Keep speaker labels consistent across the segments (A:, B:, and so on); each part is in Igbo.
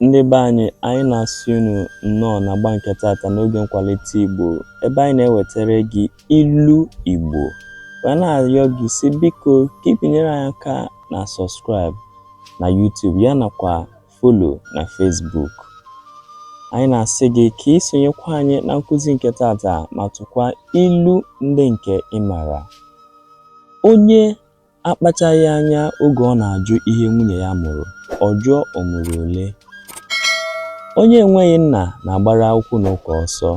A: Ndị be anyị, anyị na-asị unu nnọọ na agba nke tata n'oge nkwalite Igbo ebe anyị na-ewetara gị ilu Igbo wee na-arịọ gị sị biko ka ị binyere anyị aka na subscribe na YouTube ya nakwa follow na Facebook anyị na-asị gị ka ị sonyekwa anyị na nkụzi nke tata ma tụkwa ilu ndị nke ị mara onye Akpachaghị anya oge ọ na-ajụ ihe nwunye ya mụrụ, ọ jụọ o mụrụ ole. Onye enweghị nna na-agbara okwu na ụka ọsọ.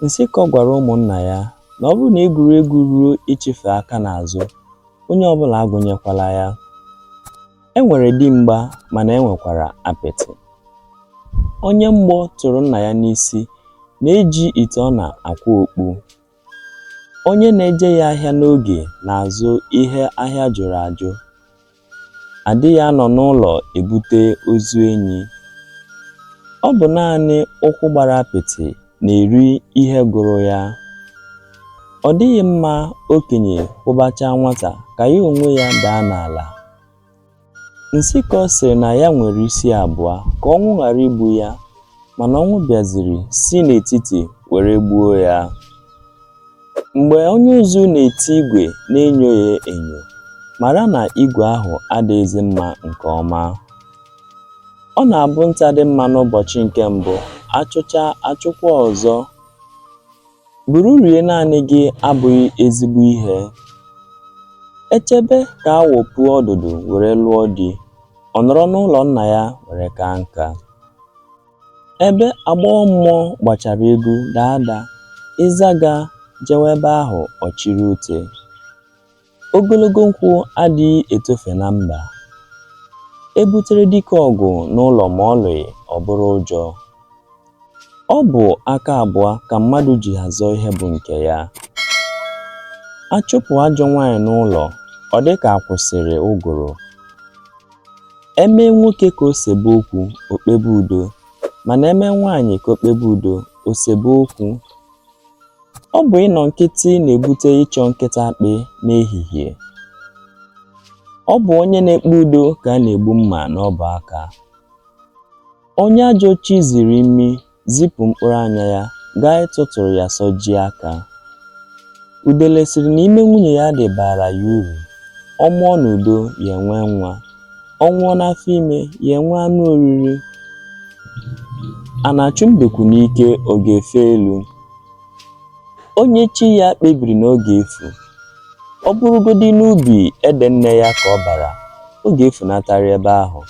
A: Nsịkọ gwara ụmụnna ya na ọ bụrụ na egwuregwu ruo ịchịfe aka n'azụ, onye ọbụla agụnyekwala ya. E nwere dimgba mana e nwekwara apịtị. Onye mgbọ tụrụ nna ya n'isi na-eji ite ọna akwa okpu. Onye na-ejeghị ahịa n'oge na-azụ ihe ahịa jụrụ ajụ. Adịghị anọ n'ụlọ ebute ozu enyi. Ọ bụ naanị ụkwụ gbara apịtị na-eri ihe gụrụ ya. Ọ dịghị mma okenye kwụbachaa nwata ka ya onwe ya daa n'ala. Nsịkọ sịrị na ya nwere isi abụọ ka ọnwụ ghara igbu ya mana ọnwụ bịaziri si n'etiti were gbuo ya. Mgbe onye ụzụ na-eti igwe na-enyo ya enyo, mara na igwe ahụ adịghịzi mma nke ọma. Ọ na-abụ nta dị mma n'ụbọchị nke mbụ, a chụchaa, a chụkwaa ọzọ. Buru rie naanị gị abụghị ezigbo ihe. E chebe ka awọ puo ọdụdụ were lụọ di, ọ nọrọ n'ụlọ nna ya were kaa nka. Ebe agbọghọ mmụọ gbachara egwu daa ada, ịzaga jewe ebe ahụ ọ chịrị ute. Ogologo nkwụ adịghị etofe na mba. E butere dike ọgụ n'ụlọ ma ọ lụghị ọ bụrụ ụjọ. Ọ bụ aka abụọ ka mmadụ ji azọ ihe bụ nke ya. A chụpụ ajọ nwaanyị n'ụlọ, ọ dị ka a kwụsịrị ụgụrụ. E mee nwoke ka o sebe okwu, o kpebe udo, mana e mee nwaanyị ka o kpebe udo, o sebe okwu. Ọ bụ ịnọ nkịtị na-ebute ịchọ nkịta akpị n'ehihie. Ọ bụ onye na-ekpe udo ka a na-egbu mma n'ọbụ aka. Onye ajọ chi ziri imi zipụ mkpụrụ anya ya gaa ịtụtụrụ ya sọjie aka. Udele sịrị na ime nwunye ya dị baara ya uru, ọ mụọ n'udo ya enwee nwa. ọ nwụọ n'afọ ime ya enwe anụ oriri a na-achụ mbekwu n'ike ọ ga-efe elu onye chi ya kpebiri na ọ ga-efu ọ bụrụgodị n'ubi ede nne ya ka ọ bara ọ ga-efunatarị ebe ahụ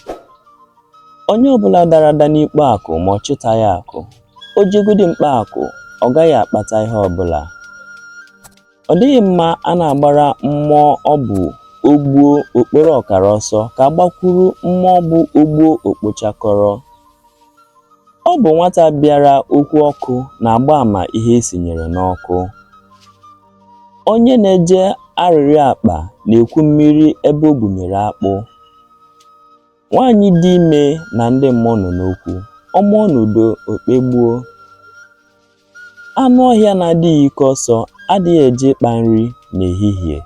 A: onye ọbụla dara ada n'ikpo akụ ma ọ chịtaghị akụ o jegodi mkpa akụ ọ gaghị akpata ihe ọbụla Ọ dịghị mma a na-agbara mmụọ ọ bụ o gbuo o kporo ọkara ọsọ ka a gbakwuru mmụọ ọ bụ o gbuo o kpochakọrọ. Ọ bụ nwata bịara okwu ọkụ na-agba ama ihe e sinyere n'ọkụ. Onye na-eje arịrịọ akpa na-ekwu mmiri ebe o gbunyere akpụ. Nwaanyị dị ime na ndị mmụọ nọ n'okwu, ọ mụọ n'udo, o kpegbuo. Anụ ọhịa na-adịghị ike ọsọ adịghị eje ịkpa nri n'ehihie.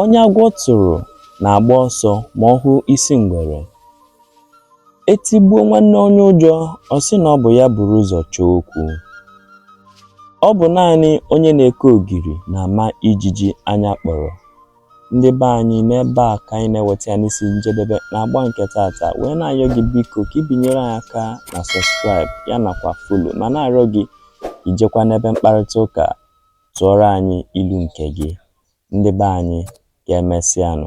A: Onye agwọ tụrụ na-agba ọsọ ma ọ hụ isi ngwere. E tigbuo nwanne onye ụjọ, ọ sị na ọ bụ ya buru ụzọ chọọ okwu. Ọ bụ naanị onye na-eke ogiri na-ama ijiji anya kpọrọ. Ndị be anyị, n'ebe a ka anyị na-eweta ya n'isi njedebe na agba nke taata, wee na-ayọ gị biko ka i binyere anyị aka na subscribe ya nakwa follow ma na-arịọ gị ijekwa n'ebe mkparịta ụka tụọrọ anyị ilu nke gị. Ndị be anyị, ka e mesịanụ.